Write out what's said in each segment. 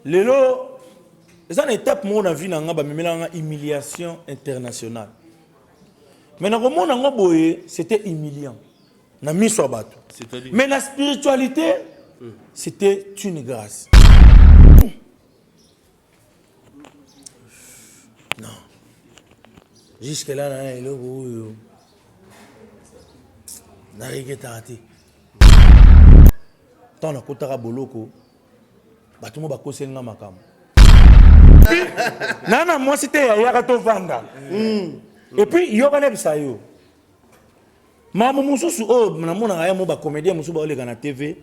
Lelo eza na etape moko na vie na nga bamemelaka nga humiliation internationale mais nakomona yango boye c'était humiliant na miso ya bato mais na spiritualité c'était une grâce non jusque là na eloko oyo nareketaka te ntango nakotaka boloko bato mo bakoseli nga makambo na na mwasi te yayaka tovanda hmm. epuis yokana bisa yo makambo mosusu oyo oh, namonaka ye mo bacomédien mosusu baoleka na tv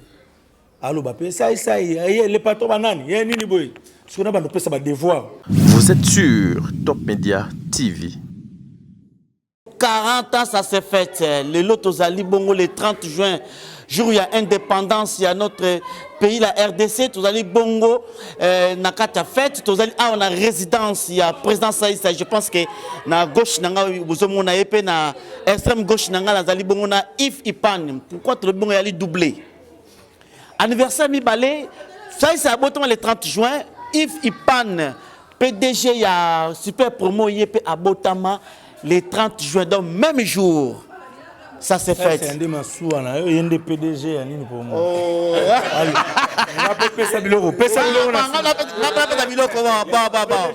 aloba mpe saisai ye le patron banani ye nini boye soki na bando opesa badevoir vous êtes sur top média tv 40 ans ça se fête lelo tozali bongo le 30 juin jour ya indépendance ya notre pays la rdc tozali bongo euh, na kati ya fete tozali awa na résidence ya président saisa je pense que na gauche na ngai bozomona ye mpe na extrême gauche na ngai nazali bongo na if ipan pourquoi tolobi bongo yali double Anniversaire mibale, Faïs abotama le 30 juin, Yves Ipan, PDG ya Super Promo ye pe abotama le 30 juin, donc même jour. Ça c'est fait. C'est nde masuwa na yo, yende PDG ya nini pour moi. Oh. Allez. Nga pe pesa biloko, pesa biloko na. Nga pe nga pe biloko ba ba ba.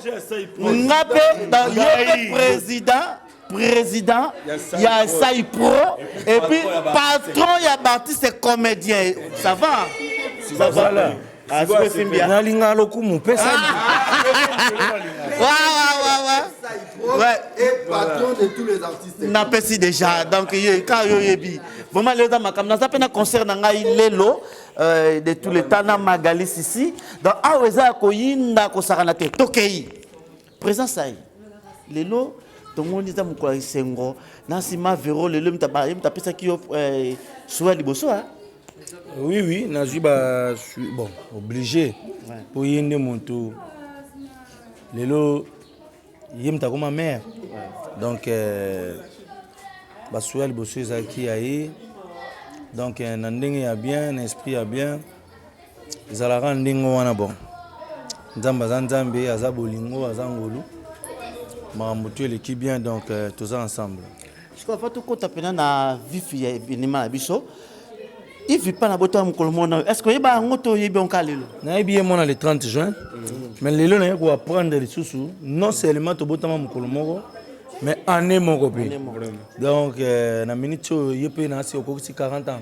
Nga pe ba yo président. président ya sai pro et puis patron ya baartiste comédien ça va ça va nalinga lokumu pesa napesi déjà donc ka yo yebi vraiment lelo eza makambo naza mpe na concert na ngai lelo euh, de tous les temps na magalis ici donc awa eza ya koyinda kosakana te tokei Presence aye lelo tomoni eza mokolo ya esengo na nsima vero lelo ye moto apesaki yo eh, suwa liboso a oui oui nazwi ba bon oblige mpo ye nde moto lelo ye moto akoma mare donc eh, basuwa liboso ezalaki ya ye donc eh, na ndenge ya bien na esprit ya bien Ezalaka ndenge wana bon nzambe aza nzambe aza bolingo aza ngolu makambo tu eleki bien donc euh, toza ensemble sikoyo fa tokota mpena na vifi ya evenema na biso ivi mpa na botala mokolo mona oyo estce oyeba yango to oyebi yango ka lelo nayebi ye mwana le 30 juin mhm. mais lelo naye koapprendre lisusu non seulement tobotama mokolo moko mais année moko mpe donc euh, na minute oyo ye mpe naasi okokisi 40 ans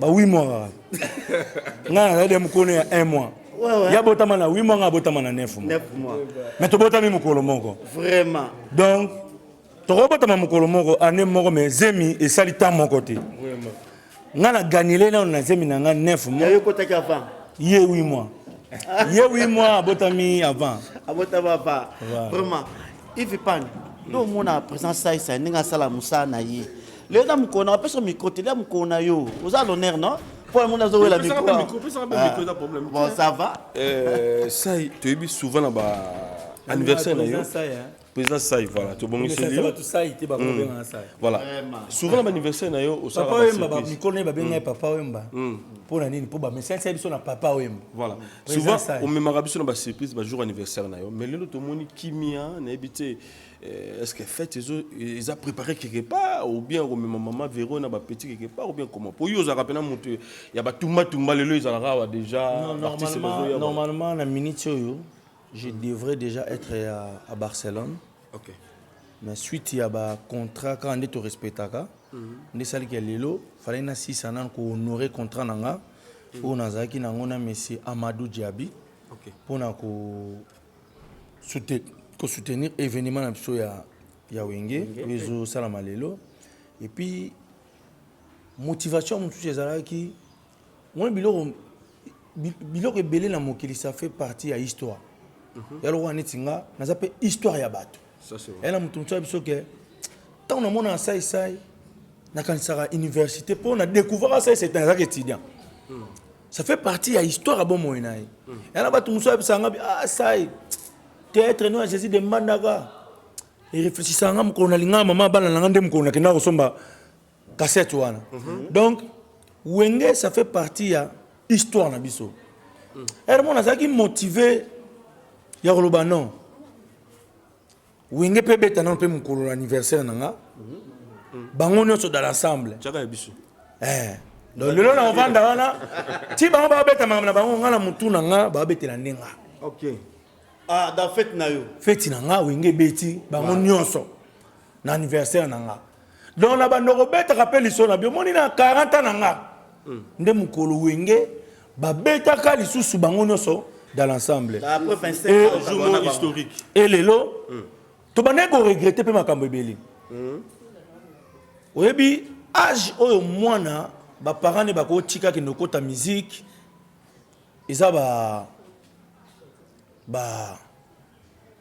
ba 8 mois kaka ngai nazali ya mokolo ya 1 mois ya botama na 8 mois ngai abotama na 9 mois mais tobotami mokolo moko vraiment donc tokobotama mokolo moko année moko mais zemi esali temps moko te ngai na gagnele nano na zemi na ngai 9 mois ye 8 mois ye 8 mois abotami avant abotami avant vraiment ivi pan nde omona présence saisa ndenge asala mosala na ye Leo eza mokolo na opesa micro te lia mokolo na yo oza l'honneur non mpo yango nazowela microbon ça va euh, sai toyebi souvent na ba anniversaire na yo président sai voilà tobongiseli yo hmm. voilà souvent na baanniversaire na yo osala mikolo na ye babenga ye papa wemba hmm. mpo na nini mpo bamesani sai biso na papa wemba voilà souvent omemaka biso na basurprise bajour anniversaire na yo mais lelo tomoni kimia nayebi te Eh, est-ce que fête ezo eza préparé quelque part ou bien komema mama Vero na ba petits quelque part ou bien comment po yo ozalaka pena moto ya ba tumba tumba lelo ezalaka awa déjà Non, l'artiste normalement, ezoya ba- normalement na minute oyo je devrais déjà être à, à barcelone OK na suite ya bacontrat kaka nde torespectaka nde esalaki ya lelo falaki nasisa nanu kohonore contrat na nga oyo nazalaki na yango na monsieur amadou diabi OK mpo na ko ko soutenir evenement na biso ya ya wenge oyo ezosalama lelo et puis motivation mosusu ezalaki moni biloko biloko ebele na mokili ça fait partie ya histoire mhm. ya lokola neti nga naza mpe histoire ya bato ya na moto mosusu ya biso ke ntango namona na saisai nakanisaka université mpo na découvraka saisai ntango ezalaka étudiant hmm. ça fait partie ya histoire ya bomoi na ye yana bato mosusu ayebisaka nga bi ah sai théâtre no ya jésus de mbandaka ereflechissaka nga mokolo nalingaka mama bana na nga nde mokolo nakendaka kosomba cassette wana donc wenge ça fait partie ya histoire na biso ere mona azalaki motive ya koloba non Wenge pe beta nanu pe mukolo na anniversaire na nga. Bango nionso dans l'ensemble. Chaka biso. Eh. Donc lelo na ovanda wana ti bango ba beta makambo na bango nga na mutu na nga ba betela ndenga. Okay. Ah, dans fête na yo. Fête na nga wenge beti bango nionso na anniversaire na nga. donc na bando kobetaka mpe liso na biomoni na 40 na nga hmm. nde mokolo wenge babetaka lisusu bango nyonso dans l'ensemble e lelo hmm. tobandaki koregrete mpe makambo ebele hmm. oyebi age oyo mwana baparent ne bakotika kende okota miziki eza ba ba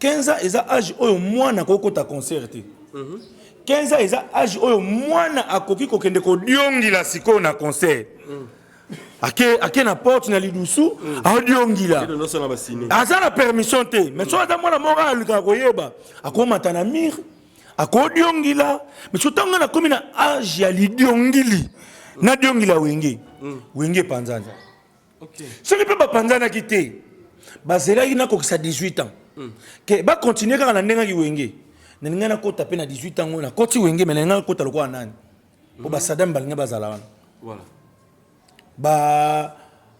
15 ans eza age oyo mwana akoki kota concert te 15 ans eza age oyo mwana akoki kokende kodiongila sikoyo na concert ake, ake na porte na lidusu adiongila aza na permission te mais soki aza mwana moko alukaka koyeba akomata na mire akodiongila mais soki ntango nakomi na age ya lidiongili nadiongila wenge wenge epanzanza soki mpe bapanzanaki te bazelaki nakokisa 18 ans hmm. ke bakontinue kaka na ndenge aki wenge nalingai nakota mpe na 18 ans oyo nakoti wenge me nalingai nakota lokola nani mpo hmm. basadame balingai bazala wana ba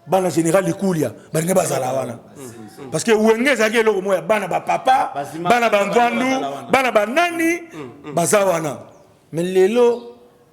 bana général likulia balingai bazala wana hmm. parce que wenge ezalaki eloko moko ya bana bapapa bana bangwandu bana banani baza wana me lelo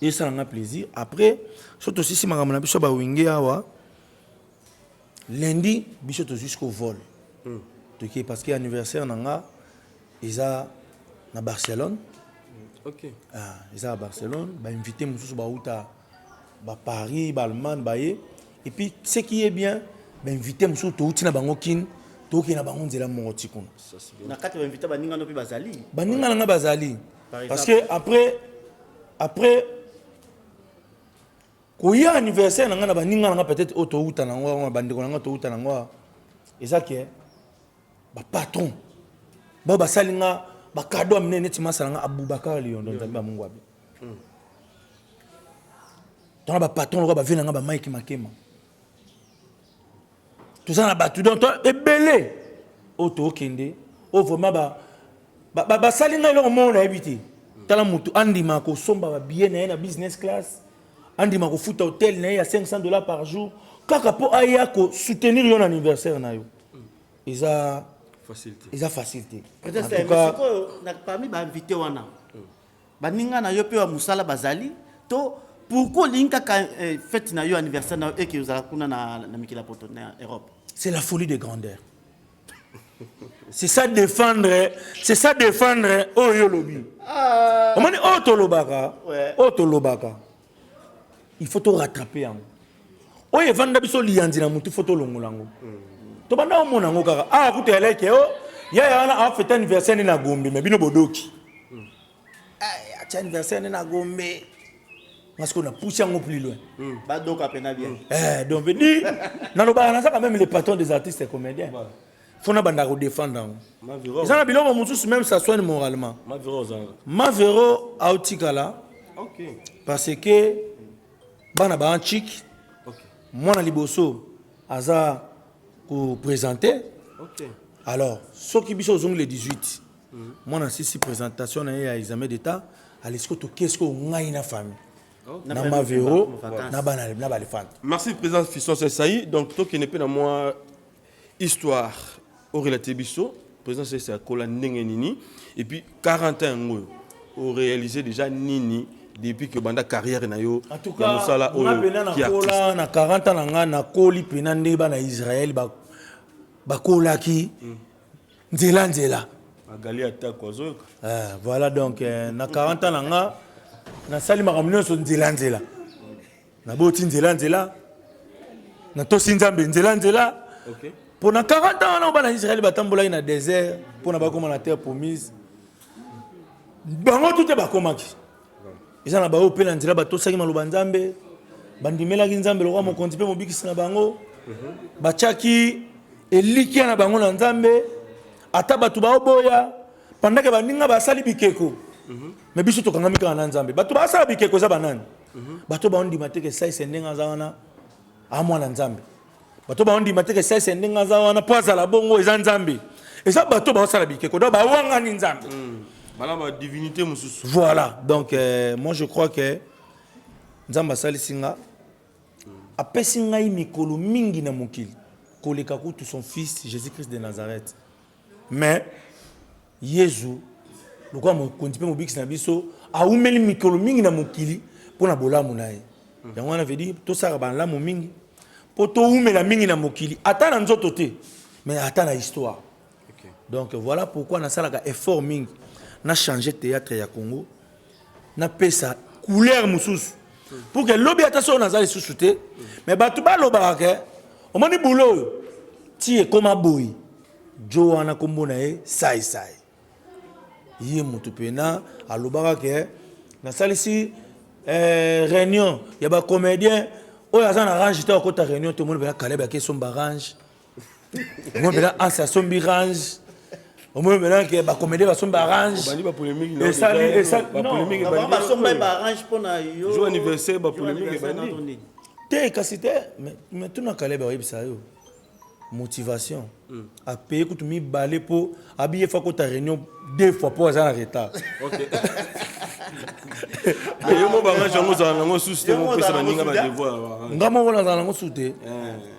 esala nga plaisir après so tosisi makambo na biso ya bawenge awa lundi biso tozwi siko vol mm. toke parce que anniversaire na nga eza na barcelone mm. okay. ah, eza na barcelone bainvité mosusu bauta baparis baallemagne baye et puis ce qui est bien bainvité mosusu touti na bango kine tokende na bango nzela moko ti kuna na kati ya bainvité baninga no mpe bazali baninga na ngai bazali Parce que après après koya anniversaire na ngai na baninga na ngai peut-être oyo towuta na yango bandeko na ngai towuta na yango eza ke bapatron bao basali nga bakado ya minene neti masala nga abubakar liyondo nzambe ya mungwabi hmm. tona bapatron lokola bavie na ngai bamike makema toza na bato donc ebele oyo tookende oyo vraiment basali ngai eloko moko nayebi te tala motu andima kosomba babillet na ye na business class andima kofuta hotel na ye ya 500 dollars par jour kaka mpo aya kosoutenir yo na anniversaire na yo eza eza facile te parmi bainvité wana Baninga na yo pe ba musala bazali to pourquoi olingi kaka eh, fete na yo anniversaire na yo eke ozala kuna na, na mikili ya poto na Europe? C'est la folie de grandeur. c'est ça défendre c'est ça défendre oyo olobi omoni oyo tolobaka oyo tolobaka il faut to rattraper yango oyo evanda biso liyanzi na mutu faut tolongola yango tobanda omona yango kaka ah kutu eleke o yaya wana afete anniversaire nde na gombe me bino bodoki eh, atia anniversaire nde na gombe masiko na pousse yango plus loin hmm. badoka mpena bien eh, donc di nalobaka naza quand même le patron des artistes comédiens faut na banda ko défendre yango eza na biloko mosusu même ça soigne moralement mavero aotikala parce que bana ba antique mwana liboso aza kopresente okay. alors soki biso ozongi le 18 mhm. mwana sisi présentation na ye ya examen d'état alesi ko toke sikoyo ngai na famille oh. na mavero na balefante merci président fiston sesai donc tokende mpe na mwa Histoire o relater biso président Sese akola ndenge nini et puis 40 ans yango oyo o réaliser déjà nini depuis que banda carrière na yo En tout ya cas, mosala nga oyo pena ki artiste nakola na 40 ans na nga nakoli pena nde bana ya Israël ba- bakolaki nzela nzela. agali atako azoyoka Eh, voilà donc eh, na 40 ans na nga nasali makambo nyonso nzela nzela. naboti nzela nzela natosi nzambe nzela nzela okay. mpo na 40 ans wana bana israele batambolaki na désert mpo na bakoma na terre promise bango tute bakomaki eza na baoyo mpe na nzela batosaki maloba nzambe bandimelaki nzambe lokola mokonzi mpe mobikisi na bango batyaki elikya na bango na nzambe ata bato baoboya pandake baninga basali bikeko mm -hmm. me biso tokangami kaka na nzambe bato basala bikeko eza banani mhm. bato baondima te kesaise ndenge aza wana amwana nzambe bato baondima te kesaise ndenge aza wana mpo azala bongo eza nzambe eza bato baosala bikeko donc bawangani nzambe mm. bala badivinité mosusu voilà donc euh, moi je crois que nzambe asalisi nga apesi ngai mikolo mingi na mokili koleka kutu son fils jésus christ de nazareth Mais Yezu lokola mokonzi mpe mobikisi na biso awumeli mikolo mingi na mokili mpo na bolamu na ye. Yango wana vedi tosaka balamu mingi mpo towumela mingi na mokili, ata na nzoto te, mais ata na histoire. Donc voilà pourquoi nasalaka effort mingi na changer theatre ya Congo napesa couleur mosusu pour que lobi ata soki naza lisusu te mais bato balobaka ke omoni bulo oyo ti ekoma boyi jo wana nkombo na ye saisai ye moto mpena alobaka ke nasalisi eh, réunion ya bacomédien oyo aza na range te akota réunion te omoni mpena kaleb akesomba range omoi mpena anse asombi range omoi mpena ke bacomédie basombi barange esalibasombaki barange mpona yo anniversaire bapolémique ebandi te kasi te mais tuna kalebe oyebisa yo motivation mm. apaye kutu mibale mpo abi ye fa kota réunion deux fois mpo aza na retard yo mo barange yango ozala nango susu te mopesa baninga badevoir nga moko nazala nango su te eh.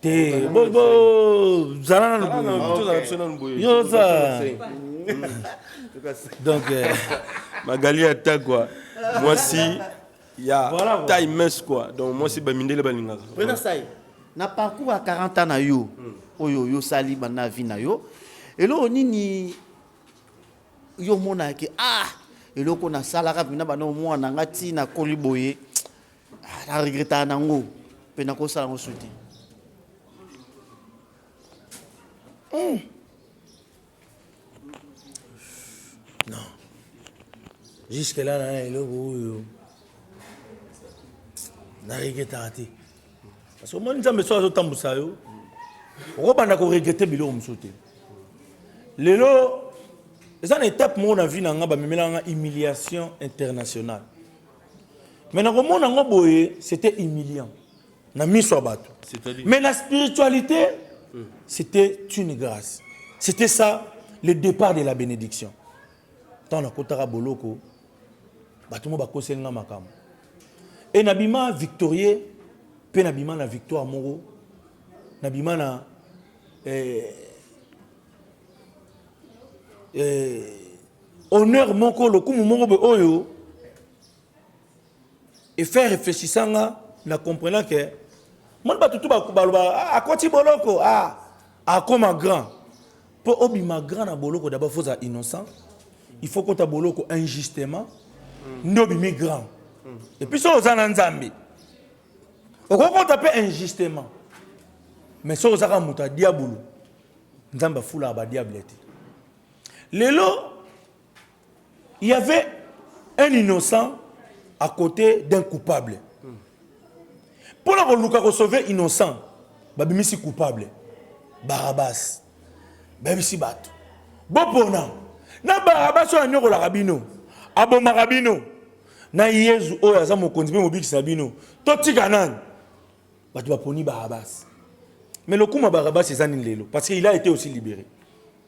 te zala nanu yoza donc euh, magali ata kua mwasi ya taille mince kua donc mwasi bamindele balingaka na parcours ya 40 ans na yo hmm. oyo oyosali banda vie na yo eloko nini yo omonaka ah eloko nasalaka mpena bana omwana nga ntina koli boye Ah, na regretaka nango mpe nakosala yango su te hmm. non jusque là na eloko oyo na regretaka te parce que omoni nzambe soki azotambwisa yo okobanda koregrete biloko mosusu te lelo eza na étape moko na vie na nga bamemelaka nga humiliation internationale mais nakomona yango boye c'était humiliant na miso ya bato mais na spiritualité c'était une grâce c'était ça le départ de la bénédiction ntango nakotaka boloko bato moko bakoseli nga makambo e nabima victorieux mpe nabima na victoire moko nabima na eh, eh, Honneur moko, lokumu moko boye oyo e faire réfléchissant nga na comprenant que moni bato tu baloba ah, akoti boloko ah, akoma grand mpo obima grand na boloko d'abord faut ozala innocent il faut kota boloko injustement mm. nde obimi grand mm. et puis soki oza na nzambe okoki kota mpe injustement mais soki ozaka moto ya diabulu nzambe afulaka badiable te Lelo, il y avait un innocent à côté d'un coupable. Pour la Luka ko sauver innocent, babimisi coupable. Barabbas. Babimisi bato. Bopona. Na Barabbas oyo anyokolaka bino. Abomaka bino. Na Yezu oyo aza mokonzi mpe mobikisi na bino. Totika nani? Bato baponi Barabbas. Mais lokuma Barabbas eza nini lelo? Parce qu'il a été aussi libéré.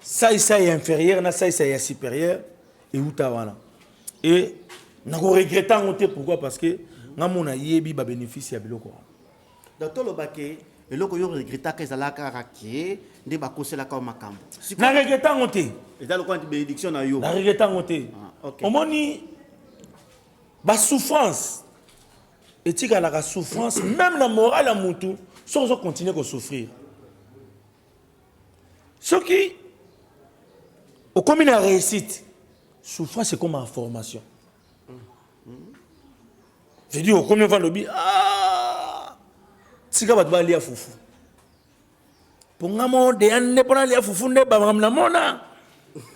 sai sai ya inférieur na sai sai ya supérieur euta wana e nakoregrete yango te pourquoi parce que nga mona yebi babénéfice ya biloko wana donc tolobake eloko yo regretaka ezalaka kaka ke nde bakoselaka makambo na regrete yango te eza lokola nti bénédiction na yo na regrete yango te ah, omoni basouffrance etikalaka souffrance même na morale ya motu soki ozo continue kosouffrir soki okomi na réussite souffrance ekoma en formation je dis okomi ova lobi ah! tika bato balia fufu mpo nga mo deya nde mpo nalia fufu nde bamakambo namona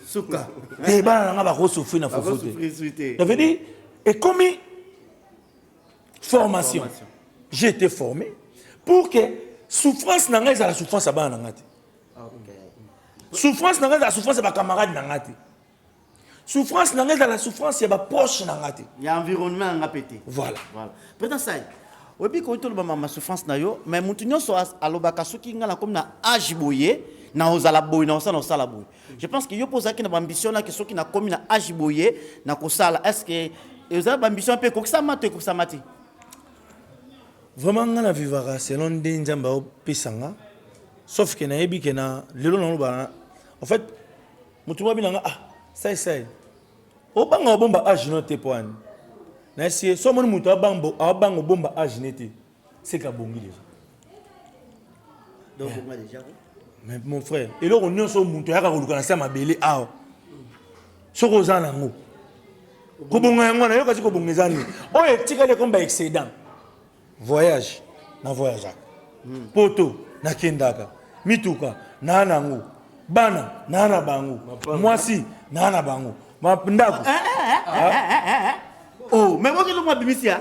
suka te bana na nga bakosufri na fufu te je veux dire ekomi formation, formation. j'ai été formé pour que souffrance na ngai ezala souffrance ya bana na ngai te okay. souffrance na ngai ezala souffrance ya bacamarade na ngai te souffrance na ngai ezala souffrance ya baproche na ngai te ya environnement na ngai mpe te voilà, voilà. président sai oyebi koki toloba mama souffrance na yo mais moto nyonso alobaka soki ngai nakomi na age boye na ozala boye na osala osala boye Je pense que yo mpe ozalaki na bambition naki soki nakomi na age boye na kosala est ce que eza bambition mpe ekokisama to ekokisama te vraiment ngai na vivaka selon nde nzambe aopesa nga sauf ke nayebi ke na lelo nalobana en fait motu mwa binanga ah sai sai obanga obomba age no te mpo ani nayesi ye so omoni motu abanga obomba age ne te C'est qu'à bongi déjà. Donc, on va déjà. Mais mon frère, et là, on est sur mon toit, on a commencé à m'abeler. Ah, ce qu'on a en haut. kobonga yango wana yoka ti kobonga eza nini oyo etikali ekomi ba excédent voyage na voyageaka hmm. poto nakendaka mituka naa nango bana naa na bango mwasi naa na bango ndako ah, ah, ah, oh, me bokelongo abimisi ya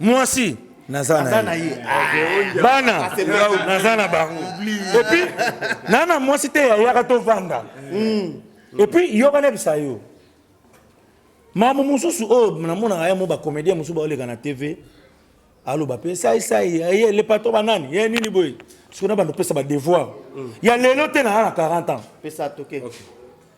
mwasi naza na ye bana naza na bango epuis naa na mwasi te yayaka tovanda hmm. epuis yoka nayebisa yo makambo mosusu oyo oh, namonaka ye mo bacomédien mosusu baoleka na tv aloba mpe saisai ye le patron banani ye nini boye soki na bando opesa badevoir hmm. ya lelo te naa na 40 ans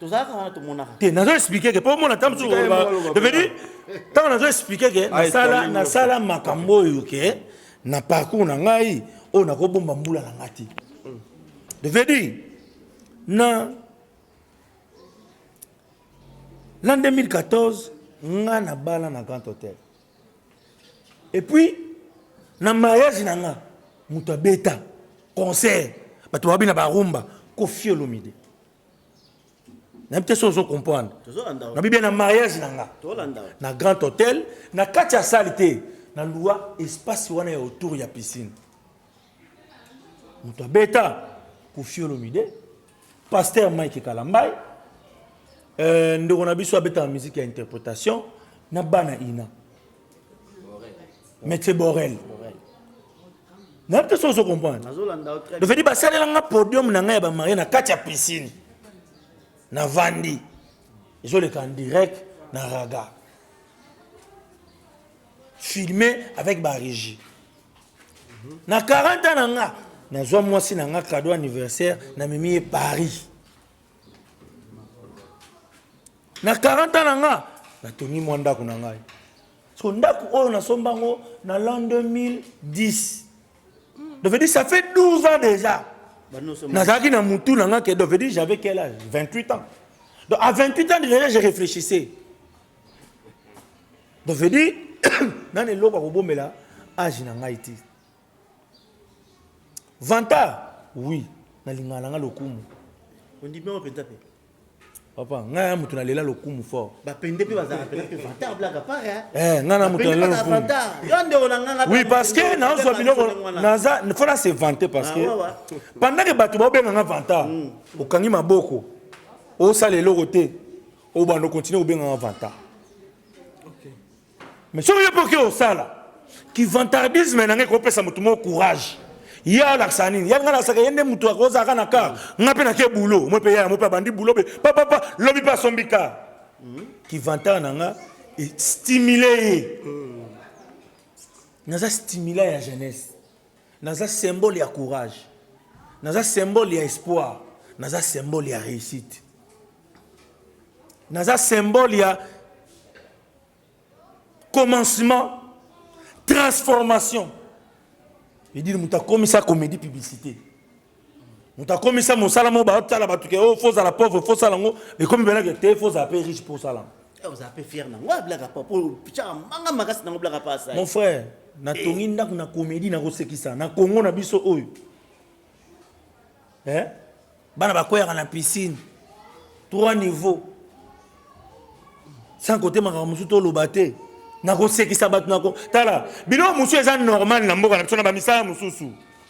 tozalaka wana tomonaka te nazo expliquer que po mona tamsu devenu ntango nazo expliquer que nasala nasala makambo oyo ke na parcours na ngai oyo nakobomba mbula na ngai te devenu na l'an 2014 nga na bala na grand hôtel et puis na mariage na nga moto abeta concert bato babi na barumba kofi olomide nayebi te soki ozo comprendre nabi bien na mariage na nga na grand hôtel na kati ya sale te na lua espace wana ya autour ya piscine moto abeta koffi olomide pasteur mike kalambai euh, ndeko na biso abetaka musique ya interpretation na bana ina maître borel nayebi te soki ozo comprendre dofedi basalela nga podium na ngai ya bamarie na kati ya piscine navandi ezoleka en direct na raga filmé avec barégie na 40 ans na nga nazwa mwasi na nga cadeau anniversaire na mimi ye paris na 40 ans na nga natongi mwa ndako na ngai so ndako oyo nasomba yango na l'an 2010 donc veut dire ça fait 12 ans déjà nazalaki na mutu na nga ke donc veut dire j'avais quel âge 28 ans donc à 28 ans déjà je réfléchissais donc veut dire nani eloko akobomela age na ngai te vanta oui nalingaka na ngai lokumu ondimi yango mpenza mpe papa ngai ya moto nalela lokumu fort bapende mpe bazalaka mpena mpe vanta ablaka pare eh, ngai na moto nalela lokumu yo ndeko na nganga oui parce que nazwa biloko naza fo na se vante parce que ah, pendant que bato baobenga nga vanta hmm. okangi maboko osala eloko te obanda okontinue kobenganga vanta mais soki yo mpe oke osala kivantardisme na ngai ekopesa moto moko courage ye alakisa nini ya ngai nalasaka ye nde moto akozalaka na kar ngai mpe nake bulo moi mpe yaya moi mpe abandi bulo be papapa lobi mpe asombi kar kivantard na ngai estimule ye naza stimula ya jeunesse Naza symbole ya courage. Naza symbole ya espoir. Naza symbole ya réussite. Naza symbole ya commencement, transformation. Edine moto akomisa comédie publicité. moto akomisa mosala moko baotala bato ke o oh, fo ozala pauvre fo osala yango ekomi belake te fo ozala mpe riche mpo osala yango eh, ozala mpe fiere nango ablaka ah, pa mpo otyaka manga makasi nango blaka pa asai mon frère natongi eh. ndako na komedi nakosekisa na kongo na biso oyo eh? bana bakweyaka na piscine trois niveau sans kote makambo mosusu toloba te nakosekisa bato nako tala biloko mosusu eza normal na mboka na biso na bamisala mosusu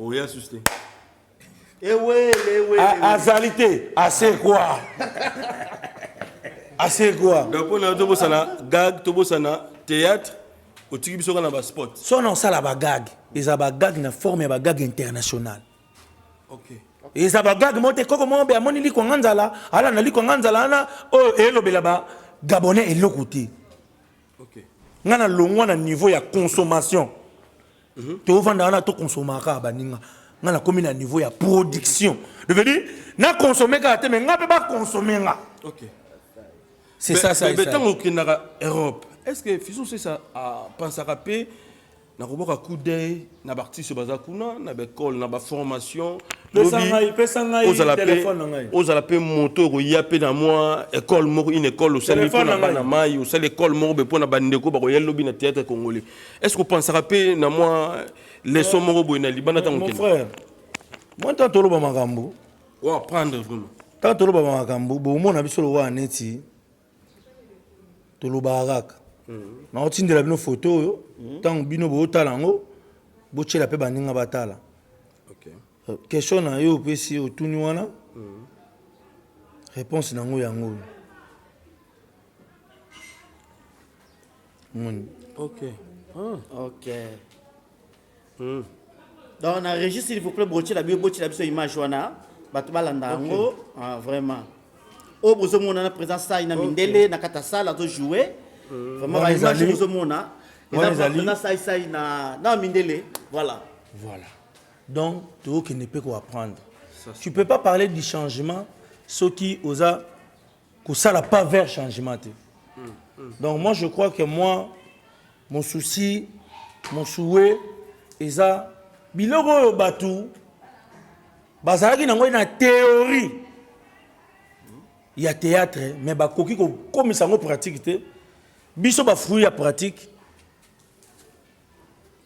oya susu te azali te asekwa asekwa donc mpo nayo tobosana gag tobosana théâtre otiki biso kaka na baspot so na osala bagag eza bagag na forme ya bagag international okay. eza bagag mo te koko moko be amoni likwanga nzala ala na likwanga nzala wana oyo oh, elobela ba gabonais eloko te okay. ngai na longwa na niveau ya consommation tovanda wana to consomaka kaka baninga nga nakomi na niveau ya production devenu na consomme kaka te me nga mpe baconsomme nga okay. c'est ça ça ntango okendaka europe est ce que fiso sesa apansaka ah, mpe nakobwaka coup d'œil na baartiste baza kuna na baekole na baformation ozala mpe moto okoya mpe na mwa ekole moko une ekole osali mpo na bana mai osali ekole moko mpe mpo na bandeko bakoya lobi na théâtre congolais est ce que opensaka mpe na mwa leson moko boye na libanda ntango mon frère mwa ntango toloba makambo oapprendre vraiment ntango toloba makambo bomona biso lokola neti tolobaka kaka hmm. naotindela bino foto oyo ntango hmm. bino bootala yango botyela mpe baninga batala euh, question na yo opesi otuni wana hmm. réponse na yango yango oyo omoni ok ah. ok mm. donc na régi s'il vous plaît botyela biso botyela biso image wana bato balanda yango okay. ah, vraiment oyo oh, bozomona na présent sai na mindele okay. na kata sala azojoue mm. vraiment baimage bozomona ezali na sai sai na, na mindele voilà voilà donc tokokende mpe koapprendre tu peux pas parler du changement soki oza kosala pas vers changement te donc moi je crois que moi mon souci mon souhait eza biloko oyo bato bazalaki nango na théorie ya théâtre mais bakoki kokomisa yango pratique te biso bafruit ya pratique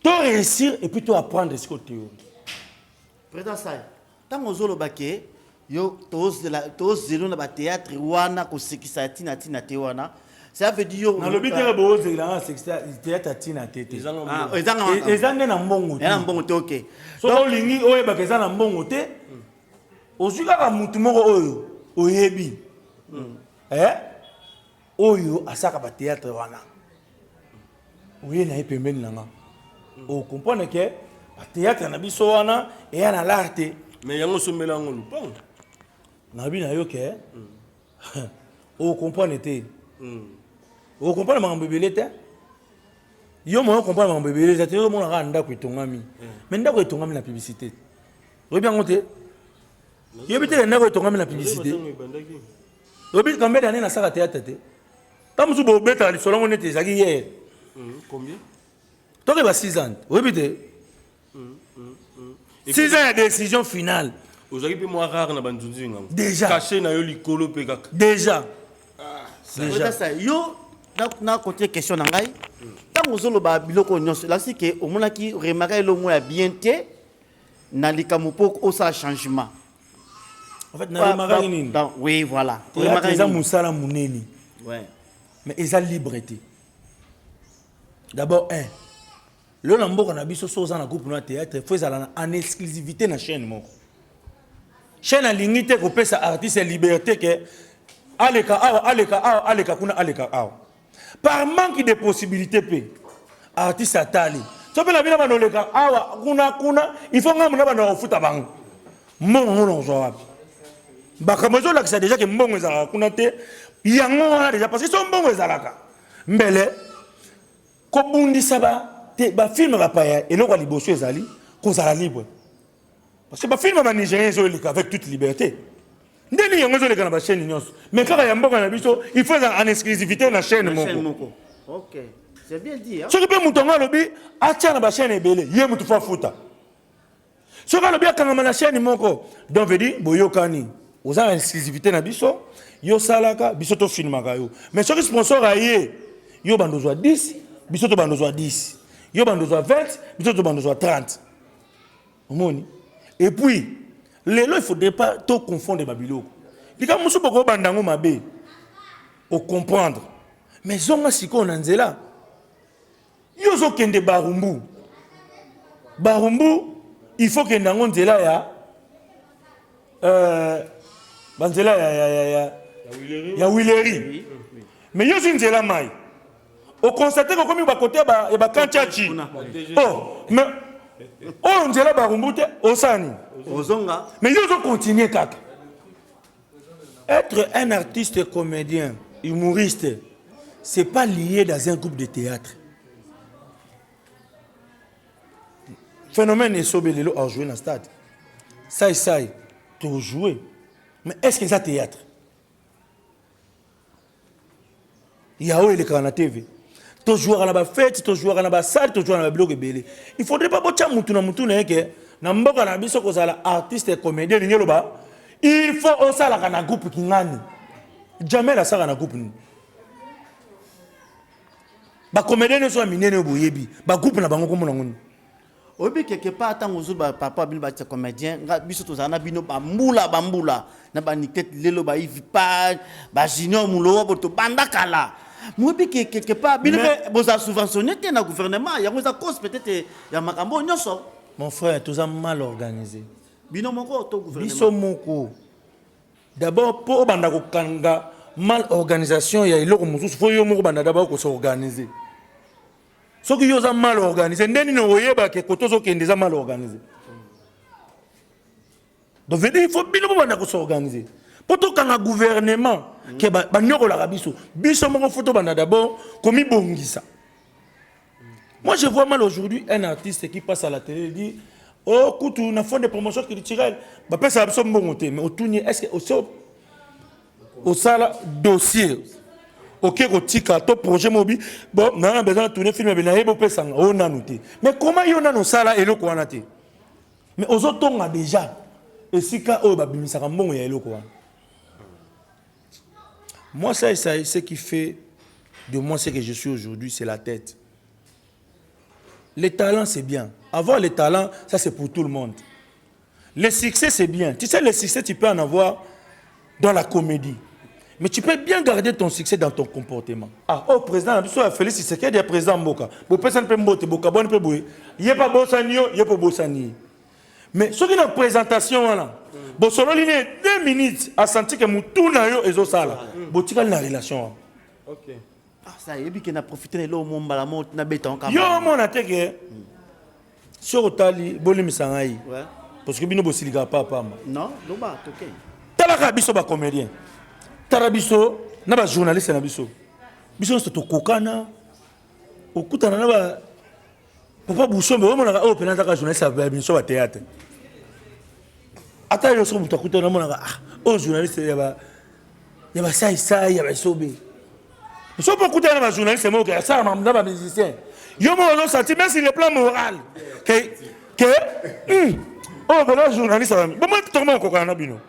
to réussir et puis to apprendre siko théorie Tango ozo loba ke yo tozela tozelo na ba theatre wana kosekisa ya tina tina te wana ça veut dire yo nalobi te bozela na sekisa theatre ya tina te te eza ah, nde na mbongo te na mbongo te ok soki olingi oyebaka eza na mbongo te ozwi kaka motu moko oyo oyebi hmm. eh oyo asaka ba théâtre wana oye na ye pembeni na nga o comprendre ke ba théâtre na biso wana eya na lar te mais yango osombela yango lupango nabi na yo ke o comprendre te o comprendre makambo ebele te yo moyo comprendre makambo ebele eza te yo omona kaka ndako etongami mais ndako etongami na publicité oyebi yango te yebi te ndako etongami na publicité Oyebi combien d'années nasala théâtre te ntango mosusu bobetaka lisolo yango neti ezalaki hier hmm, tokeba 6 ans oyebi te 6 ans ya décision finale ozalaki mpe mwa rare na banzunzu yango déjà cache na yo likolo mpe kaka déjà ah, déjà yo na kotie question na ngai ntango ozoloba biloko oyo nyonso elakisi ke omonaki remarka elongo ya bien te na likambo mpo osala changement en fait na remarquaki nini donc oui voilà remarquaki eza musala munene ouais mais eza libre te d'abord un lelo na mboka na biso so oza na groupe na théâtre fo ezala na en exclusivité na chaîne moko chaîne alingi te kopesa artiste ya liberté ke aleka awa aleka awa aleka kuna aleka awa par manque de possibilité mpe artiste atali so mpe na bino banda oleka awa kuna kuna ifo ngambo na banda kofuta bango mbongo yango nakozwa wapi makambo ezolakisa deja ke mbongo ezalaka kuna te yango wana deja parce que so mbongo ezalaka mbele kobundisa bafilme bapaya eloko ya liboso ezali kozala libre Parce que ba films ba Nigériens ezo eleka avec toute liberté. Nde nini yango ezo eleka na ba chaînes nyonso. Mais kaka ya mboka na biso, il faut ezala en exclusivité na chaîne Na chaîne moko. moko. Ok. C'est bien dit, hein? Soki mpe moto yango alobi atya na ba chaîne ebele, ye moto fo afuta. Soki alobi akangama na chaîne moko, donc veut dire boyokani. Oza na exclusivité na biso, yo salaka, biso to filmaka yo. Mais soki sponsor aye, yo bando ozwa 10, biso to bando ozwa 10. Yo bando ozwa 20, biso to bando ozwa 30. omoni et puis lelo il faudrait pas to confondre ba biloko likambo mosusu bokoki obanda yango mabe ocomprendre mais zonga sikoyo na nzela yo ozokende barumbu barumbu il faut kende yango nzela ya euh, banzela ya, ya, ya, ya, ya wileri mais yo ozwi nzela mai okonstate kokomi bakote ya bakantiaci o oh, me oyo oh, nzela barumbu te osala nini ozonga me yo ozokontinue kaka être un artiste comédien humoriste c'est pas lié dans un groupe de théâtre phénomène esobe lelo ajoue na stade sai sai tojoue mais est ce que eza théâtre ya oyo elekaka na tv tozwaka na bafete tozwaka na basale tozwaka na babiloko ebele il faudrait pas botya mutu na mutu na ye ke na mboka na biso kozala artiste comédien elingi eloba il faut osalaka na groupe kingani jamel asalaka na groupe nini bacomédien nyonso ya minene oyo boyebi bagroupe na bango komona ngoni oyebi quelque part ntango ozwi ba par rapport ya bino batia comédien nga biso tozala na bino bambula bambula na banikete lelo baivi pa bajunior mulowa bo tobanda kala moyebi ke quelque part bino Mais- mpe bozala subventionne te na gouvernement yango eza cause peut-être ya makambo oyo nyonso mon frère toza mal organisé bino moko to biso gouvernement moko d'abord mpo obanda kokanga mal organisation ya eloko mosusu fo yo moko obanda d'abord kosorganize soki yo oza mal organise nde nini okoyeba ke kote ozokende eza mal organise donc veut dire il faut bino bobanda kosorganize mpo tokanga gouvernement ke banyokolaka biso biso moko fo tobanda d'abord komibongisa moi je vois mal aujourd'hui un artiste qui passe à la télé dit o oh, kutu na fond de promotion culturelle bapesaka biso mbongo te mais otuni est ce que osala dossier oke kotika to projet mobi bo nana besoin na tourner film ya benaye bopesa nga o nanu te mais comment yo nanu osala eloko wana te mais ozotonga deja esika oyo babimisaka mbongo ya eloko wana moi ça esaye ce qui fait de moi ce que je suis aujourd'hui c'est la tête Le talent c'est bien. Avoir le talent, ça c'est pour tout le monde. Le succès c'est bien. Tu sais, le succès tu peux en avoir dans la comédie. Mais tu peux bien garder ton succès dans ton comportement. Ah, oh président, na biso ya Félix Tshisekedi ya président mboka. Bo pesa mpe mbote boka bon mpe boye. Ye pa bosani yo, ye po bosani. Mais soki na présentation wana, bo sololi ne 2 minutes a senti que mutuna yo ezo sala. Bo tikali na relation wana. Okay. Ah, ça yebi ke na profiter na eloko mo mbala mo na beta on kamba. Yo mona te ke soki otali bolimisa ngai Ouais. parce que bino bosilikaka pa pamba Non, loba toke. talaka biso bacomédien tala biso na bajournaliste na biso biso nyonso tokokana okutana na ba papa busombe omonaka oyo mpena azaka journaliste ya biso ba théâtre ata yo soki moto akuta namonaka ah, oyo journaliste ya basaisai ya basobe so mpo okutana na bajournaliste moko asala na bamusicien yo moko ozosanti meme sur le plan moral ke ke hmm, oyo oh, bola journaliste bomoi tokoma kokokana na bino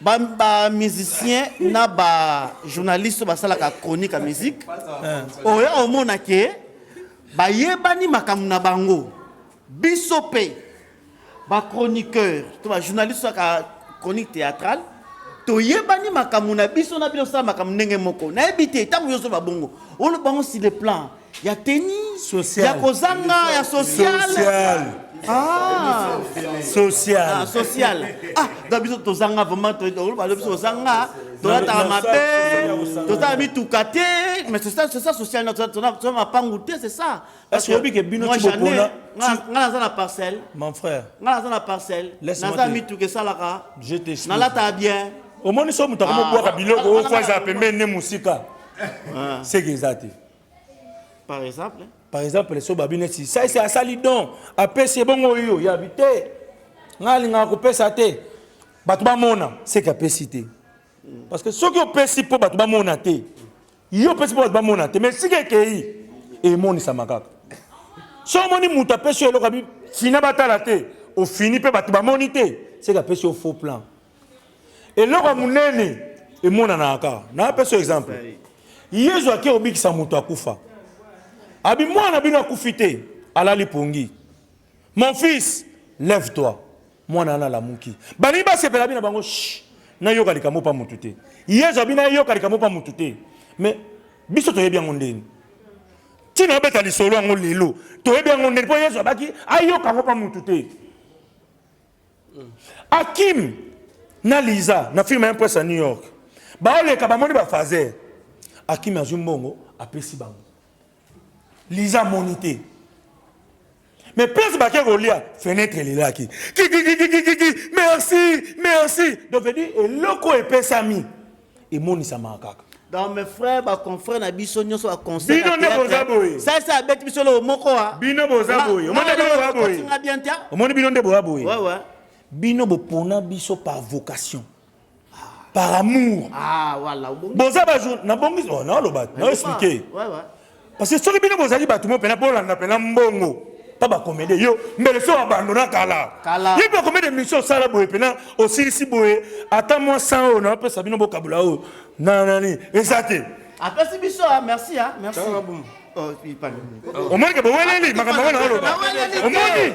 ba, ba musicien na ba journaliste basalaka chronique ya musique eh. oyo omona ke bayebani makambo na bango biso mpe bachroniqueur to bajournaliste aka chronique théâtrale toyebani makambo na biso na bino osala makambo ndenge moko nayebi te ntango yo ozoba bongo oloba yango sur le plan ya tennis Social. ya kozanga ya social Social. Ah. Social. Ah, social ah donc biso tozanga vraiment to- to- balobi biso tozanga tolataka na- mabe ya kosanga. tozala mituka te mais c'est ça c'est ça social toza- toza toza mapangu te c'est ça Parce que oyebi ke bino moi, ti j'en ai. bokola, Nga- ti- nga naza na parcelle Mon frère, nga naza na parcelle Laisse-moi naza te- mituka esalaka je t'explique. nalataka bien omoni so moto akomobwaka Ah. biloko oyo fo aza pembeni ne mosika seke eza te par exemple par exemple so babi neti saisi asali don apesi ebongo yo yabi te ngai alingaka kopesa te bato bamona seke apesi te parce que soki opesi mpo bato bamona te yo opesi mpo bato bamona te mais sika ekei emonisama kaka so omoni moto apesi yo eloko abi fina batala te ofini mpe bato bamoni te seke apesi yo faux plan eloko ya monene emonanaka kaka napesa exemple yezu ake kobikisa moto akufa abi mwana bino akufi te alali pongi mon fils lève toi mwana wana alamuki balingi basepela bino bango nayoka likambo mpa motu te yezu abi nayoka likambo mpa motu te mais biso toyebi yango ndeni ntina obeta lisolo yango lelo toyebi yango ndeni mpo yezu abaki ayoka yango mpa motu te Akim na Liza na film un prince à New York. Baoleka bamoni ba phaser. Akim azwi mbongo apesi bango. Liza amoni te. Mais place bake kolia fenêtre elelaki. Kiki kiki kiki merci merci. Donc veut dire eloko epesami. emonisamaka kaka donc mes frères ba confrères na biso nyonso ba conseil bino nde boza boye ça ça abeti biso lelo moko wa ah. bino boza boye omoni bino boza boye nga bien tia omoni bino nde boza boye ouais ouais bino bopona biso par vocation par amour ah voilà boza ba jour na bongi oh na loba na expliquer ouais ouais Parce que soki bino bozali bato mo mpena bolanda mpena mbongo mpa bakomede yo mbele so abandona kala ye mpe akomede mission osala boye mpena osilisi boye ata mwa 100 oyo napesa bino bokabola oyo na nani eza te apesi biso ah, merci ah, merci omoni ke boweleli makambo yango na oloba omoni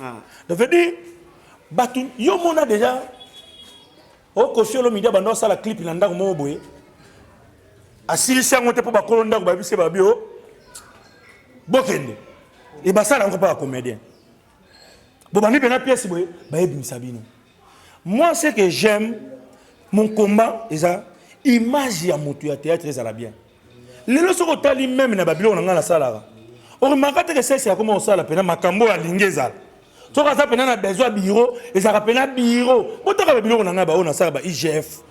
Ah. Donc veut dire bato yo mona déjà okosi oh, olomide abanda osala clip na ndako moko boye asilisi yango te mpo bakolo ndako babisi babi o bokende e basala yango mpo ya comédien bobandi mpena pièce boye bayebimisa bino moi ce que j'aime mon combat eza image ya motu ya théâtre ezala bien lelo soki otali meme na babiloko na ngai nasalaka oremaka teke sese akoma kosala mpena makambo oyo alingi ezala soki aza mpena na besoin biro ezalaka mpena biro botaka babiloko na ngai baoyo nasala ba igf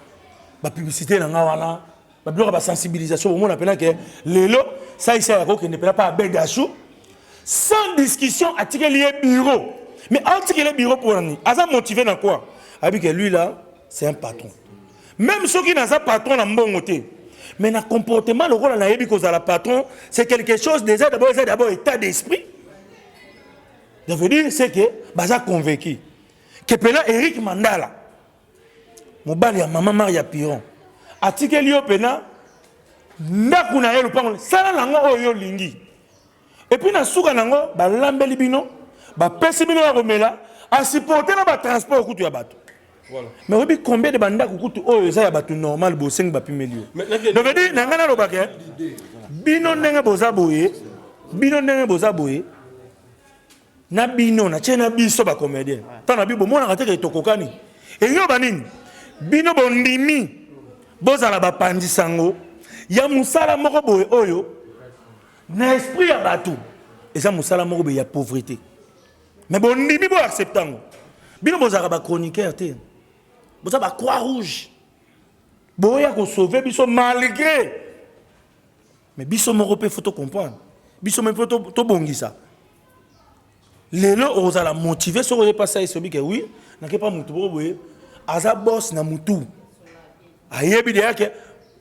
bapiblicité na ngai wana babiloko ya basensibilisation bomona mpena ke lelo saisa ya kokende mpena mpa abegashu sans discussion atikeli ye biro mais atikeli ye biro mpo nani aza motive na koi ayebi ke lui là c'est un patron Meme soki naza patron na mbongo te mais na comportement lokola nayebi kozala patron c'est quelque chose déjà d'abord eza d'abord état d'esprit ça veut dire c'est que baza convaincu que pena Eric Mandala mobali ya mama Maria Piron atikeli yo pena ndako na ye lopango sala nango oyo olingi Et puis na suka nango balambeli bino bapesi bino ya komela asiporte na batransport kutu ya bato Voilà. mais oyebi combien de bandako kutu oyo eza ya bato normal bosengi bapimeli yo Mais nakende- donc edi na ngai nalobaka eh, bino ndenge boza boye bino ndenge boza boye na bino natie na biso bacomédien ntango na bino bomonaka te ke tokokani eyoba nini bino bondimi bozala bapanzi sango ya mosala moko boye oyo na esprit ya bato eza mosala moko boye ya pauvrete mais bondimi bo accepte yango bino bozalaka bachroniqueur te boza bacroix rouge boya kosauve biso malgré mais biso moko mpe fo tocomprendre biso mpe tobongisa to lelo okozala motive soki oye mpasi ayesobi ke wi nake mpa motu boko boye aza bos na motu ayebi deya ke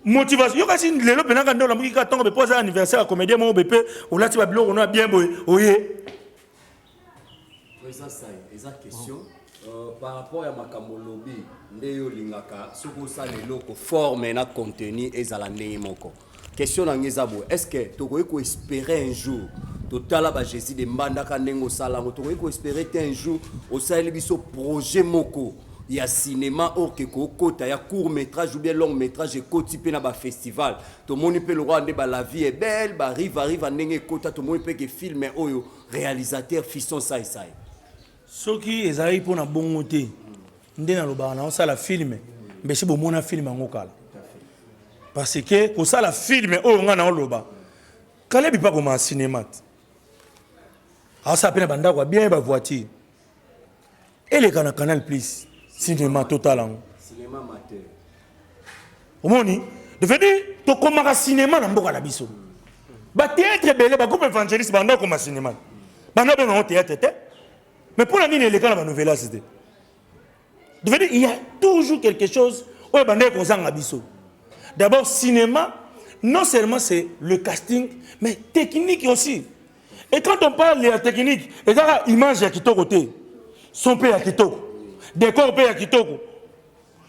motivation yo kasi lelo mpenaka nde olamuki kaka ntongo be mpo aza anniversaire ya comédien moko be mpe olati babiloko no ya bien boye oye eza sai eza question euh, par rapport ya makambo olobi nde yo olingaka soki osala eloko forme na contenu ezala ndenge moko Question na nga eza boye, est-ce que tokoki ko esperer un jour totala ba Jesus de Mbandaka ndenge osala yango, tokoki ko esperer te un jour osaleli biso projet moko ya cinéma or que kokota ya court métrage ou bien long métrage ekoti mpe na ba festival tomoni mpe lokola nde ba la vie est belle ba riva riva ndenge ekota tomoni mpe ke film oyo réalisateur Fiston Sai Sai soki ezalaki mpo na bongo te nde nalobaka na osala filme mbese bomona filme yango kala parce que kosala filme oyo ngai naoloba kalebi mpe akoma cinema te asala mpe na bandako ya bien bavoiture eleka na canal plus cinema totala yango omoni devenu tokomaka sinema na mboka na biso bateatre ebele bagroupe évangéliste banda okoma sinema banda benga yango teatre te mais mpo na nini eleka na banouvelas te devenu il y a toujours quelque chose oyo ebandaki kozanga biso d'abord cinéma non seulement c'est le casting mais technique aussi et quand on parle ya technique ezaka image ya kitoko te son mpe ya kitoko décor mpe ya kitoko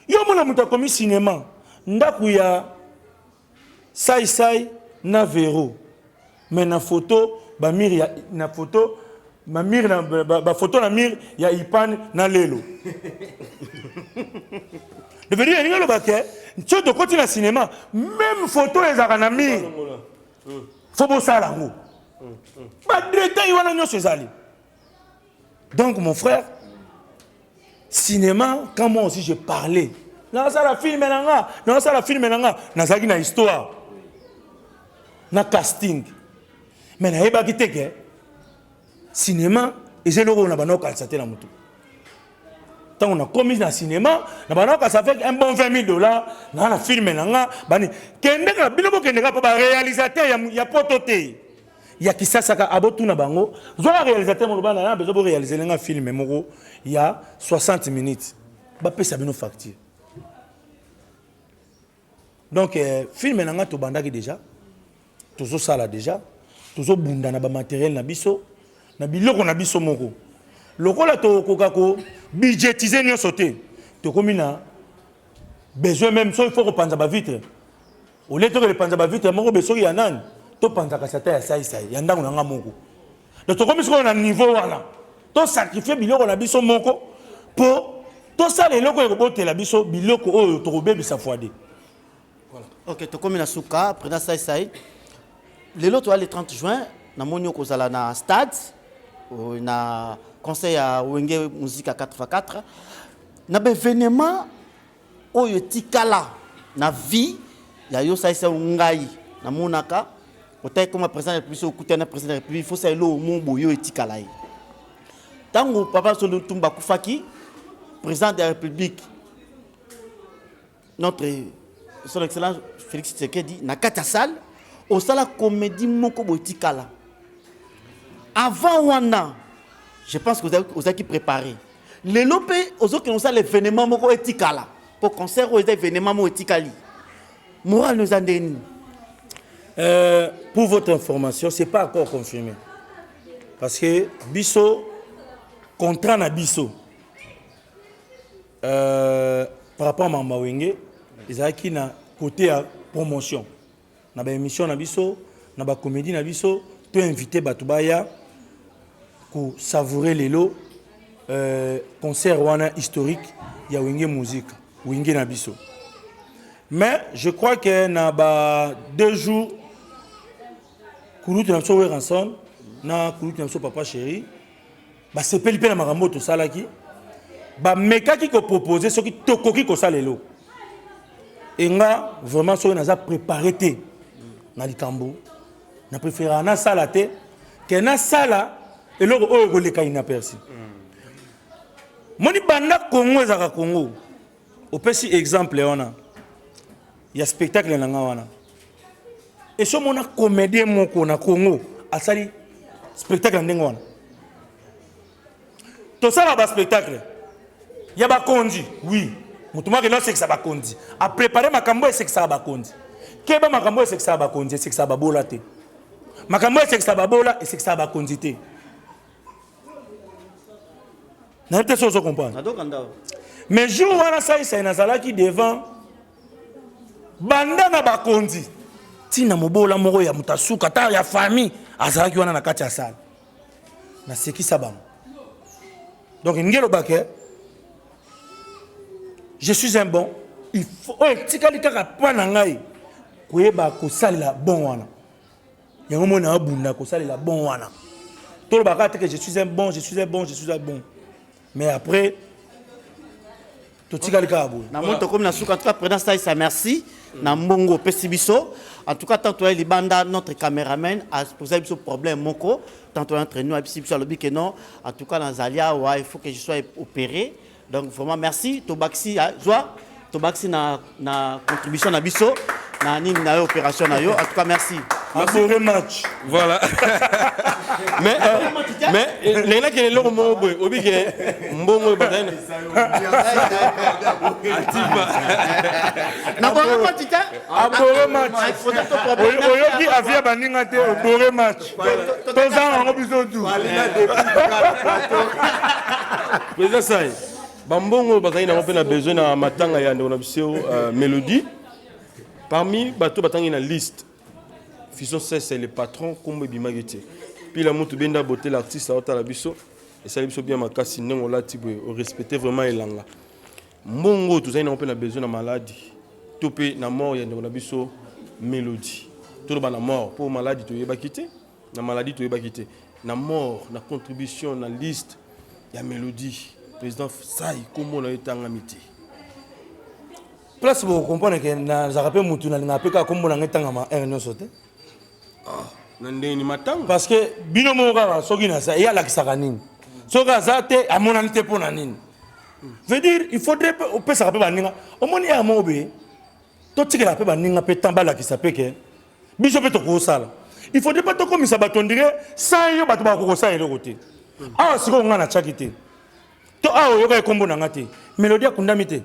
Yo mona moto akomi cinema ndaku ya sai sai na vero mais na photo ba mire ya na photo ma mire na ba, ba photo na mire ya ipan na lelo devenu elingi aloba ke nso tokoti na cinéma meme photo ezalaka na mire fo bosala yango badetail wana nyonso ezali Donc mon frère, cinéma, quand moi aussi je parlais, nazala film na nga, nazala film na nga, nazalaki na histoire, na casting. Mais nayebaki te ke cinéma eza eloko oyo na banda kokanisa te na motu. Ntango nakomi na cinéma, na banda kokanisa avec un bon 20 000 dollars, naa na film na nga, bani kendeka bino bokendeka mpo ba réalisateur ya, ya poto te. ya kisasa ka abotuna bango zwaka réalisateur moloba na ya bezo bo réaliser nga film moko ya 60 minutes bapesa bino facture donc eh, film na nga tobandaki déjà tozosala déjà tozobunda na bamateriel na biso na biloko na biso moko lokola tokoka ko budgétiser nyonso te tokomi na besoin même so il faut kopanza bavitre olie tokende panza bavitre moko be soki ya nani topanzaka sata ya saisai ya ndako na ngai moko donc tokomi sikoyo na niveau wana tosakrifie biloko na biso moko mpo tosala eloko ekobotela biso biloko oyo tokobebisa fwade ok tokomi na suka président saisai lelo toya le 30 juin namoni okozala na stade euh, na conseil ya wenge musique ya 4x4 na baevenement oyo etikala na vie ya yo salisa yo ngai namonaka otaki koma président ya république soki okutani na président ya république faut sala eloko mo boye oyo etikala ye ntango papa solo tumba akufaki président ya république notre son excellence félix tshisekedi na kati ya salle osala comédie moko boye etikala avant wana je pense que ozalaki préparé lelo mpe ozokende kosala evenement moko etikala mpo concert oyo eza evenement moko etikali moral no eza nde nini euh, pour votre information c'est pas encore confirmé parce que biso contrat na biso euh, par rapport à mamba wenge ezalaki na côté ya promotion na ba emission na biso na ba comedie na biso to invite bato baya ko savourer lelo euh, concert wana historique ya wenge musique wenge na biso mais je crois que na ba deux jours kulutu na biso weranson na kulutu na biso papa chéri Basepeli mpe na makambo oyo tosalaki, bamekaki kopropose soki tokoki kosala eloko. E nga vraiment soki naza prepare te na likambo, na preferaka nasala te ke nasala eloko oyo ekoleka inaperci. Moni banda Congo ezalaka Congo. Opesi exemple wana ya spectacle na nga wana esi omona comédien moko na congo asali spectacle ya ndenge wana tosala baspectacle ya bakonzi wi moto moko akenda osekisa bakonzi aprepare makambo oyo esekisaka bakonzi keba makambo oyo esekisaka bakonzi esekisaka babola te makambo oyo esekisaka babola esekisaka bakonzi te nayebi te soki ozo comprendre mais jour wana saisai nazalaki devant banda na bakonzi ntina mobola moko ya moto asuka ata ya famille azalaki wana na kati ya sale nasekisa bango donc ndenge elobake je suis un bon oyo etikali kaka mpa na ngai koyeba kosalela bon wana yango mona abunda kosalela bon wana toloba kaka te que je suis un bon je suis un bon je suis un bon mais après totikali kaka boye na moi tokomi na suka en tout cas président saisa merci na mbongo opesi biso en tout cas tant toyai libanda notre cameraman aposai biso problème moko tant toyai entre nous ayebisi biso alobi ke non en tout cas nazali awa il faut que je sois opéré Donc vraiment merci tobakisi ah, zwa tobakisi na, na contribution na biso na nini na yo opération na yo en tout cas merci. Abore match. Voilà. mais euh, mais euh, naina kele loko mo boy obi ke mbongo badane. Atipa. Na bore match. Abore match. Oyoki avia baninga te obore match. tozanga yango biso tu président sai bambongo oyo bazali nango mpe na besoin na matanga ya ndeko na biso euh, mélodie parmi bato batangi na liste fison sese le patron nkombo ebimaki te pila mutu benda bote l'artiste aotala biso esali biso bien makasi ndenge olati boye orespecte vraiment elanga Mbongo oyo tozali nango mpe na besoin na maladi to mpe na mort ya ndeko na biso Melodie. Toloba na mort mpo maladi toyebaki te, na maladi toyebaki te, na mort na contribution na liste ya Melodie président Sai kombo na yo etangami te. Place bokokomprendre ke nazalaka mpe motu nalingaka mpe kaka kombo na ngai etangama heure nyonso te ah, na ndenge ni matanga parce que bino moko kaka soki naza ye alakisaka nini soki aza te amonani te mpo na nini veut dire il faudrait opesaka mpe baninga omoni ya mobe totikela mpe baninga mpe temps balakisa mpe ke biso mpe tokosala il faudrait mpe tokomisa bato ondire sa yo bato bakokosala eloko te awa sikoyo ngai natyaki te to awa oyoka ekombo na ngai te melodi akundami te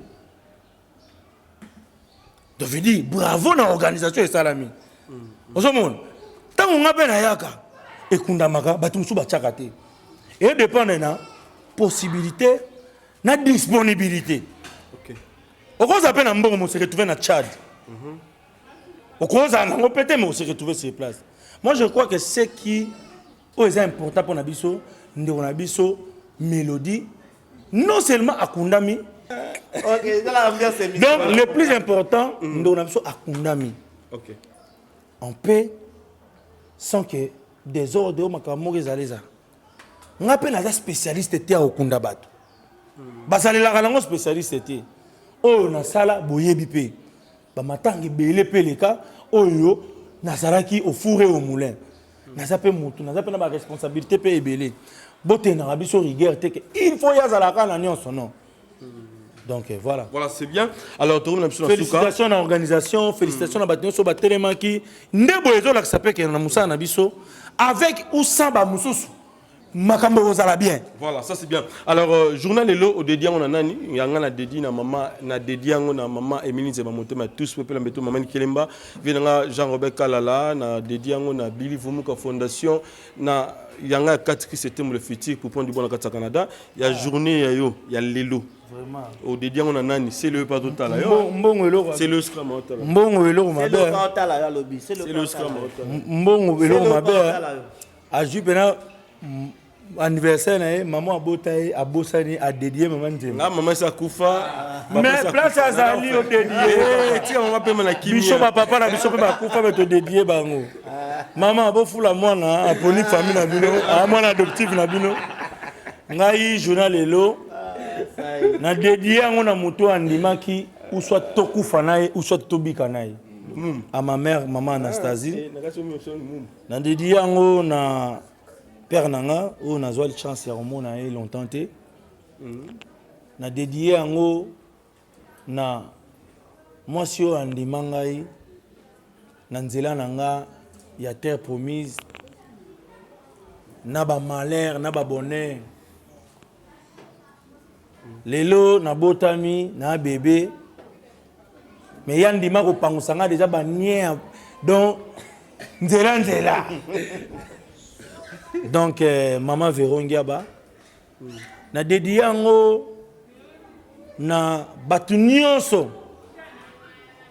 donc je dis bravo na organisation esalami ozomona ntango nga mpe nayaka ekundamaka bato mosusu batiaka te edepende na possibilité na disponibilité okoza mpe na mbongo mo se retrouve na tchad mhm. okozala nango mpe te mais ose retrouve sur place moi je crois que ce qui oyo eza important mpo na biso ndeko na biso mélodie non seulement akundami okay, donc le plus important mm. ndeko na biso akundami okay. en paix sans que desordre oyo makambo moko ezali ezala nga mpe naza spécialiste te ya kokunda bato mm. basalelaka nango spécialiste te oyo nasala boyebi mpe bamatanga ebele mpe leka oyo nazalaki ofure au moulin naza mpe motu naza mpe na baresponsabilité mpe ebele botendaka biso rigueur te ke il faut ye azalaka na nyonso non donc euh, voilà voilà c'est bien alors tokomi na biso na suka félicitations na organisation félicitations na bato nyonso batelemaki nde boye ezolakisa mpe kena na mosala na biso avec ou sans bamosusu makambo ekozala bien voilà ça c'est bien alors euh, journal elo odedi yango na nani yanga na dedi na mama na dedi yango na mama emili nzeba motema tous peuple mbeto mama nikelemba vie na nga jean robert kalala na dedi yango na bili vumuka fondation na yanga ya kati ki septembre le futur pour prendre du bon na kati ya canada ya journée ya yo ya lelo Vraiment. odedi yango na nani c'est le pas totala yo Mbo- mbongo eloko c'est le scrum otala mbongo eloko C'est mabe le hein. Kantala, ya lobi. C'est le c'est le Kantala. scrum otala mbongo eloko C'est le mabe hein. Kantala, yo. azwi mpena anniversaire na ye mama abota ye abosani adedie mama nzembo nga mama esi akufa mais place azali yo dedie tika mama pema na kimia biso bapapa na biso mpe bakufa me todedie bango mama bofula mwana aponi famille na bino a mwana adoptive na bino ngai jona lelo na dedie yango na moto andimaki uswa tokufa na ye uswa tobika na ye à ma mère, maman Anastasie. Na dediye yango na père na nga oyo nazwa chance ya komona ye longtemps te na dediye yango na mwasi oyo andima ngai na nzela na nga ya terre promise na bamalheur na babonheur lelo nabotami na bebe me ya ndima kopangusa nga deja banie donc nzela nzela donc eh, mama verongiaba na dedi yango na bato nyonso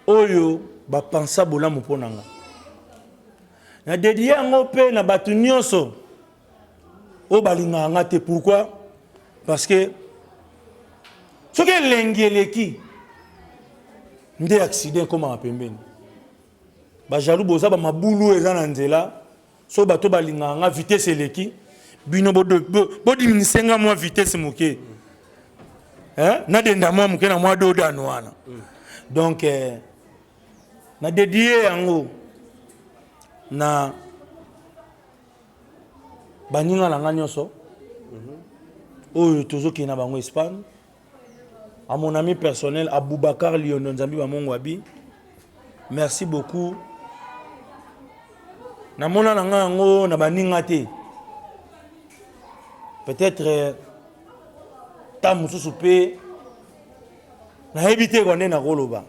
oyo bapensa bolamu mpo na nga na dedi yango mpe na bato nyonso oyo balingaka nga te pourquoi parce que soki elengi eleki nde accident ekomaka pembeni bajalou boza bamabulu oyo eza na nzela soki bato balingaka nga vitesse eleki bino bodiminise bo, bo nga mwa vitesse moke eh? nadenda mwa moke na mwa dodano wana donc eh, nadedie yango na baninga na nga nyonso oyo tozokende na bango espagne à mon ami personnel aboubacar liondo nzambi bamongo abi merci beaucoup namona na nga yango na baninga te peut-être euh, ta mosusu mpe nayebi te kwa nde nakoloba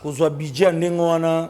kozwa budget ya ndenge wana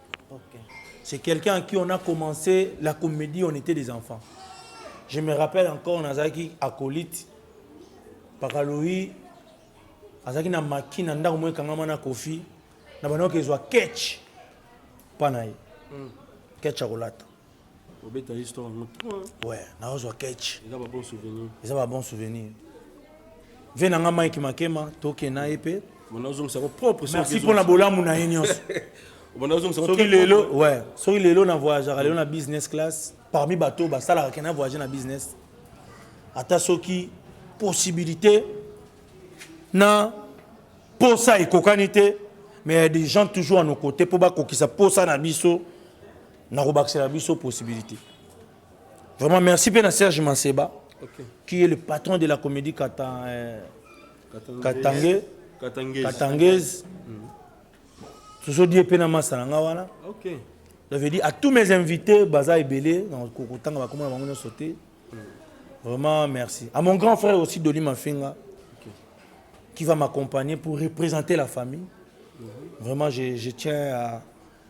C'est quelqu'un à qui on a commencé la comédie, on était des enfants. Je me rappelle encore, on a qui acolyte, Pakaloï, azaki na maki na ndako moye kangama na kofi na bandoki ezwa ketch mpa na ye ketch akolata obeta histoire yango trop ouais naozwa catch eza ba bon souvenir eza ba bon souvenir vie na nga mike makema toke na ye mpe bonazongisa ko propre merci mpo na bolamu na ye nyonso soki lelo ouais soki lelo na voyageaka lelo na business class parmi bato oyo basalaka ke na voyage na business ata soki possibilité na posa ekokani te mais ya des gens toujours à nos côtés mpo bakokisa posa na biso na kobakisela biso possibilité vraiment merci mpe na serge manseba okay. qui est le patron de la comédie Katan, euh, katange katangaise, katangaise. Mm -hmm. tozodie mpe na masa na nga wana okay. ça veut dire à tous mes invités baza ebele na kokotanga bakoma na bango nyonso te mm. vraiment merci à mon grand frère aussi doli mafinga okay. qui va m'accompagner pour représenter la famille mm -hmm. vraiment je, je tiens à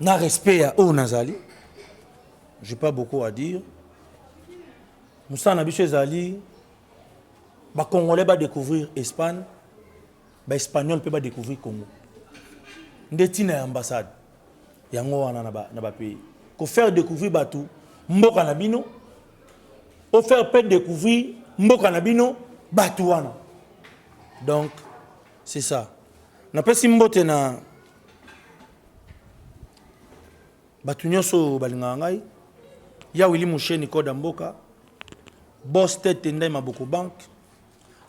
na respect ya oyo nazali j'ai pas beaucoup à dire mosala na biso ezali bacongolais badécouvrir espagne baespagnol mpe badécouvrir congo nde ntina ya ambassade yango wana na bapays kofaire découvrir bato mboka na bino ofaire mpe découvrir mboka na bino bato wana donc C'est ça. Napesi mbote na bato nyonso oyo balingaka ngai ya wili musheni koda mboka bos tete ndai maboko banke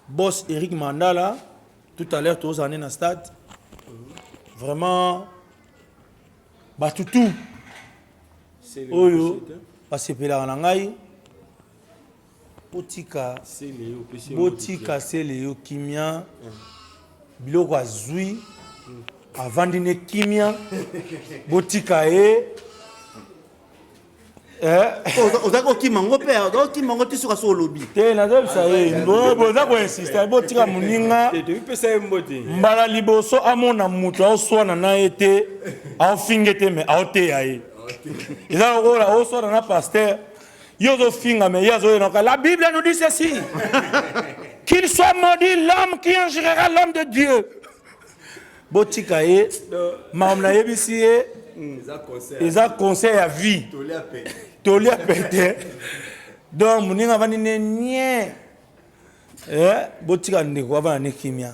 bos eric mandala tout à l'heure tozala nde na stade vraiment bato tout oyo basepelaka na ngai botika botika seleyo kimia biloko azwi avandi ne kimia botika ye eh? oh, oza kokima yango mpe oza kokima yango ti soki aso olobi te nazobisa ye boza koinsiste botika moninga mbala liboso amona moto aoswana na ye te aofinge te me aoteya ye eza lokola oswana na paster Yo ozo finga mais ye azo yenoka. La Bible nous dit ceci. Qu'il soit maudit l'homme qui injurera l'homme de Dieu. Botika ye. Makambo nayebisi ye. Hmm, eza conseil ya vie. Toli ya pete. Donc moninga avandi ne nie. Eh, botika ndeko avanda ne kimia.